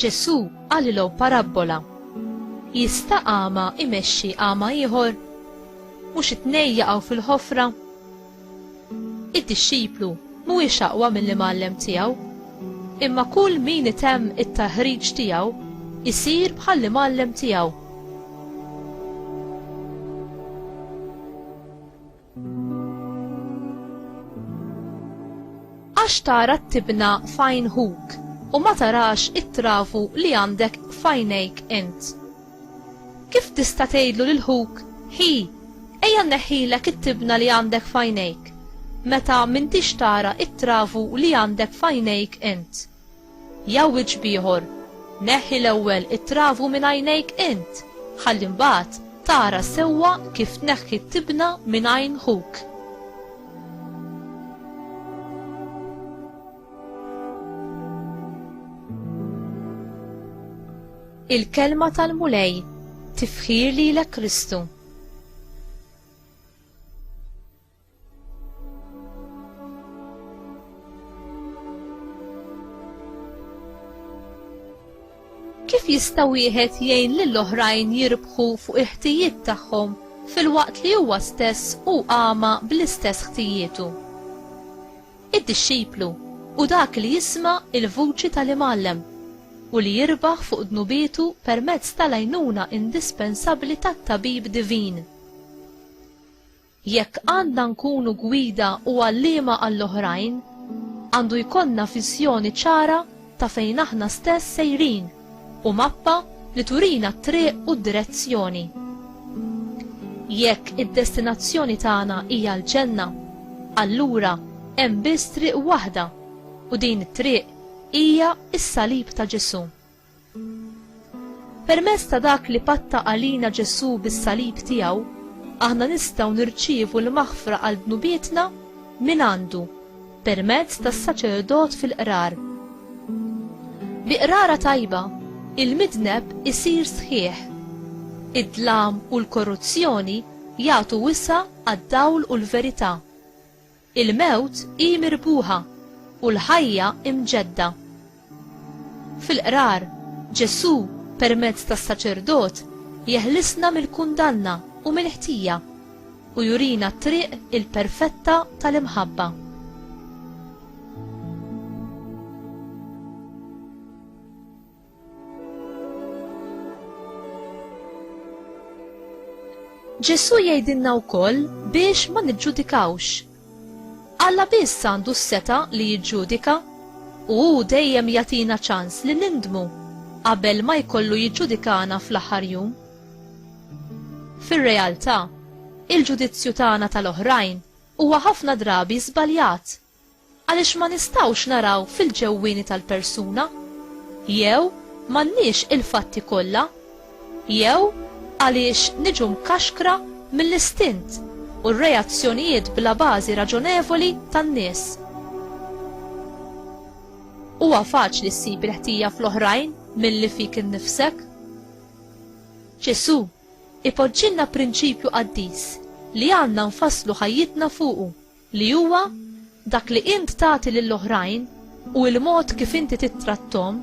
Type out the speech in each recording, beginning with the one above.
Ġesù qalilhom parabbola. Jista' għama imexxi għama ieħor? Mhux it-tnejn jaqgħu fil-ħofra? Id-dixxiplu mhuwiex aqwa mill-imgħallem tiegħu, imma kull min itemm it-taħriġ tiegħu jsir bħall-imgħallem tiegħu. Għax tara t-tibna f'għajn ħuk u ma tarax it-trafu li għandek f'għajnejk int. Kif tista' tgħidlu lil ħuk, Hi, ejja nneħħilek it-tibna li għandek f'għajnejk, meta m'intix tara t-travu li għandek f'għajnejk int? Jgħawwiġ b'ieħor, Neħħi l-ewwel it-travu minn għajnejk int, ħalli mbagħad tara sewwa kif tneħħi t-tibna minn għajn ħuk. Il-kelma tal-Mulej, tifħir lilek Kristu. Kif jista' wieħed jgħin lil oħrajn jirbħu fuq il-ħtijiet tagħhom filwaqt li huwa stess hu għama bl-istess ħtijietu? Id-dixxiplu hu dak li jisma' l-vuċi tal-Imgħallem u li jirbaħ fuq dnubietu permezz tal-għajnuna indispensabbli tat-Tabib Divin. Jekk għandna nkunu gwida u għalliema għall-oħrajn, għandu jkollna viżjoni ċara ta' fejn aħna stess sejrin. u mappa li turina t-triq u d-direzzjoni. Jekk id-destinazzjoni tagħna hija l-ġenna, allura hemm biss triq waħda u din it-triq hija s-salib ta' Ġesù. Permezz ta' dak li patta għalina Ġesù bis-salib tiegħu, aħna nistgħu nirċievu l-maħfra għal dnubietna mingħandu. permezz tas-saċerdot fil-qrar. Bi qrara tajba, il-midneb isir sħiħ. Id-dlam u l-korruzzjoni jagħtu wisa' għad-dawl u l-verità. Il-mewt hi mirbuħa u l-ħajja imġedda. Fil-Qrar, Ġesù, permezz tas-saċerdot, jeħlisna mill-kundanna u mill-ħtija u jurina t-triq il-perfetta tal-imħabba. Ġesù jgħidilna wkoll biex ma niġġudikawx Alla biss għandu s-setgħa li jiġġudika, u hu dejjem jagħtina ċans li nindmu qabel ma jkollu jiġġudikana fl-aħħar jum. Fir-realtà, il-ġudizzju tagħna tal-oħrajn huwa ħafna drabi żbaljat għaliex ma nistgħux naraw fil-ġewwieni tal-persuna jew m'għandniex il-fatti kollha. Jew għaliex niġu mkaxkra mill-istint u r-reazzjonijiet bla bażi raġonevoli tan-nies? Huwa faċli ssib il-ħtija fl-oħrajn milli fik innifsek. Ġesù ipoġġilna prinċipju qaddis li għandna nfasslu ħajjitna fuqu. li huwa dak li int tagħti lil oħrajn u l-mod kif inti tittratthom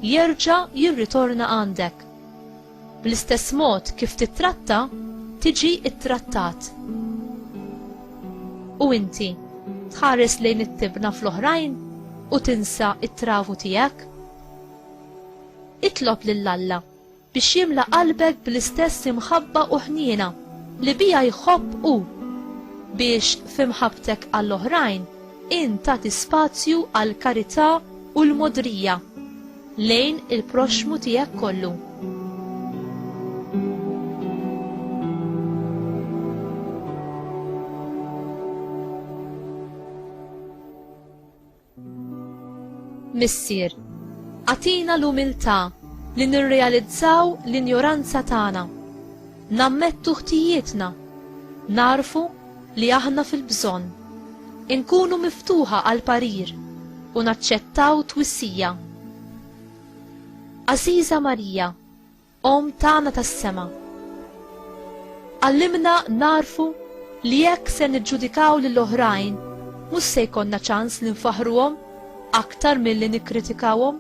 jerġa' jirritorna għandek. Bl-istess mod kif tittratta, tiġi ttrattat. U inti, tħares lejn it-tibna fl-oħrajn u tinsa t-travu tiegħek? Itlob lil Alla biex jimla qalbek bl-istess imħabba u ħniena li biha jħobb hu, biex f'imħabbtek għall-oħrajn int tagħti spazju għall-karità u l-mogħdrija lejn il-proxxmu tiegħek kollu. Missier, agħtina l-umiltà li nirrealizzaw l-injoranza tagħna, nammettu ħtijietna, nagħrfu li aħna fil-bżonn, inkunu miftuħa għall-parir u naċċettaw twissija. Għażiża Marija, Omm tagħna tas-sema, għallimna nagħrfu li jekk se niġġudikaw lil oħrajn mhux se jkollna ċans li nfaħħruhom aktar milli nikkritikawhom.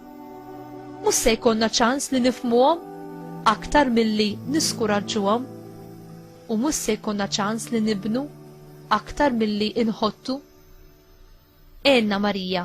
Mhux se jkollna ċans li nifhmuhom aktar milli niskuraġġuhom u mhux se jkollna ċans li nibnu aktar milli inħottu. Għenna Marija.